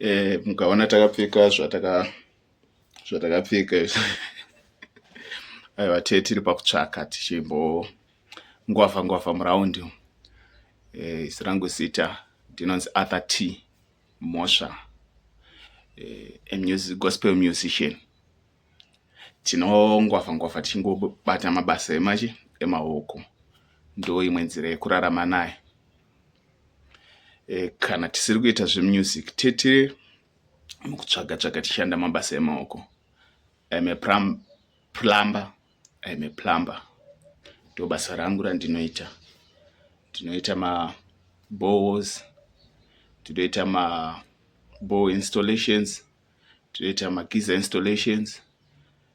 eh, mukaona takapfeka zvataka zvatakapfeka aiwa tee tiri pakutsvaka tichimbo ngwavha ngwavha muraundi eh, isi rangu zita ndinonzi arthur t mhosva eh, a music, gospel musician Tinongwavha ngwavha tichingobata mabasa emachi emaoko ndoimwe nzira yekurarama nayo. Kana tisiri kuita zvemusic tete mukutsvaga tsvaga tichishanda mabasa emaoko. I am a plumber, I am a plumber ndobasa rangu randinoita. Ndinoita ma boreholes, ndinoita ma bore installations. toita magizer installations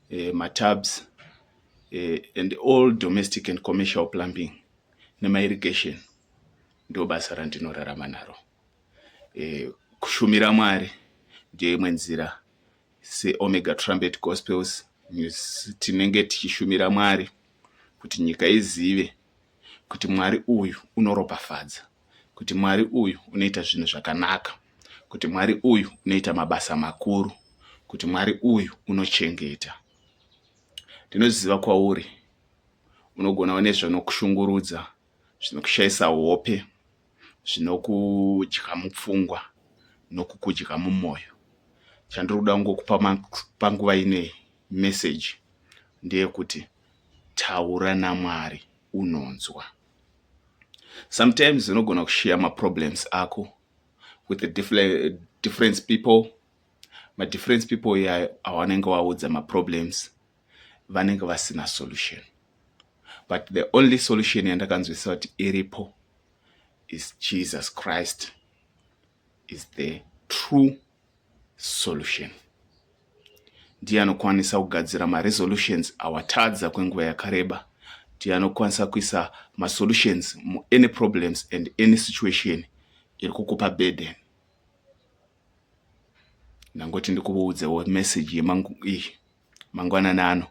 eh, matabs eh, and all domestic and commercial plumbing nemairrigation ndo basa randinorarama naro eh, kushumira mwari ndiyo imwe nzira seomega trumpet gospels news tinenge tichishumira mwari kuti nyika izive kuti mwari uyu unoropafadza kuti Mwari uyu unoita zvinhu zvakanaka, kuti Mwari uyu unoita mabasa makuru, kuti Mwari uyu unochengeta. Ndinoziva kwauri unogona une zvinokushungurudza, zvinokushaisa hope, zvinokudya mupfungwa nokukudya mumwoyo. Chandiri kuda kungokupa panguva inei meseji ndeyekuti taura naMwari unonzwa. Sometimes unogona kushiya maproblems ako with the different, different people madifference people iyayo awanenge waudza maproblems vanenge vasina solution but the only solution yandakanzwisisa kuti iripo is jesus christ is the true solution ndiye anokwanisa kugadzira maresolutions awatadza kwenguva yakareba ndiye anokwanisa kuisa masolutions muany problems and any situation iri kukupa burden ndangoti ndikuudzewo message yemangu iyi mangwanani ano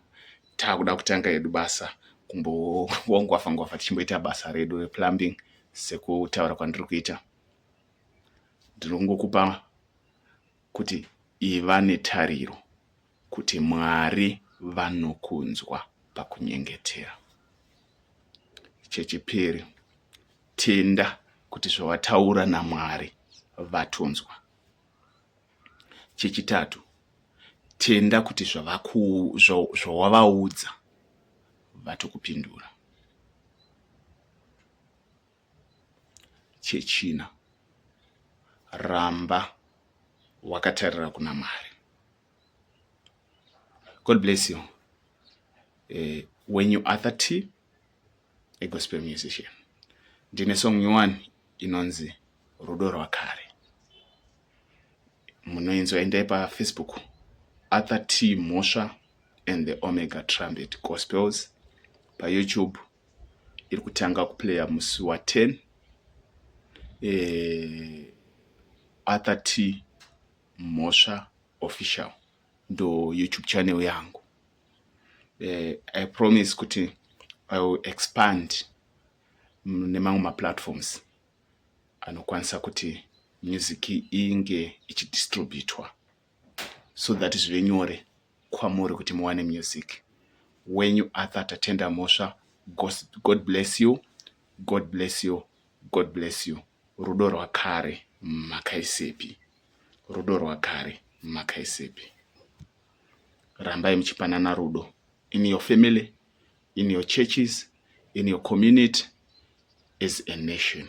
taakuda kutanga yedu basa kumbowongwafa ngwafa tichimboita basa redu replumbing sekutaura kwandiri kuita ndinongokupa kuti iva netariro kuti Mwari vanokunzwa pakunyengetera. Chechipiri, tenda kuti zvawataura naMwari vatonzwa. Chechitatu, tenda kuti zvawavaudza vatokupindura. chechina ramba wakatarira kuna mwari god bless you uh, when you are 30 a gospel musician ndine song nyowani inonzi rudo rwakare munoinzwa endai pafacebook arthur t mhosva and the omega trumpet gospels payoutube iri kutanga kuplaya musi wa 10 eh, arthur t mhosva official ndo youtube channel yangu eh, i promise kuti i will expand nemamwe maplatforms anokwanisa kuti music inge ichidistributwa so that zvive nyore kwamuri kuti muwane music wenyu arthur tatenda mhosva god bless you god bless you god bless you rudo rwakare makaisepi rudo rwakare makaisepi rambai muchipanana rudo in your family in your churches in your community as a nation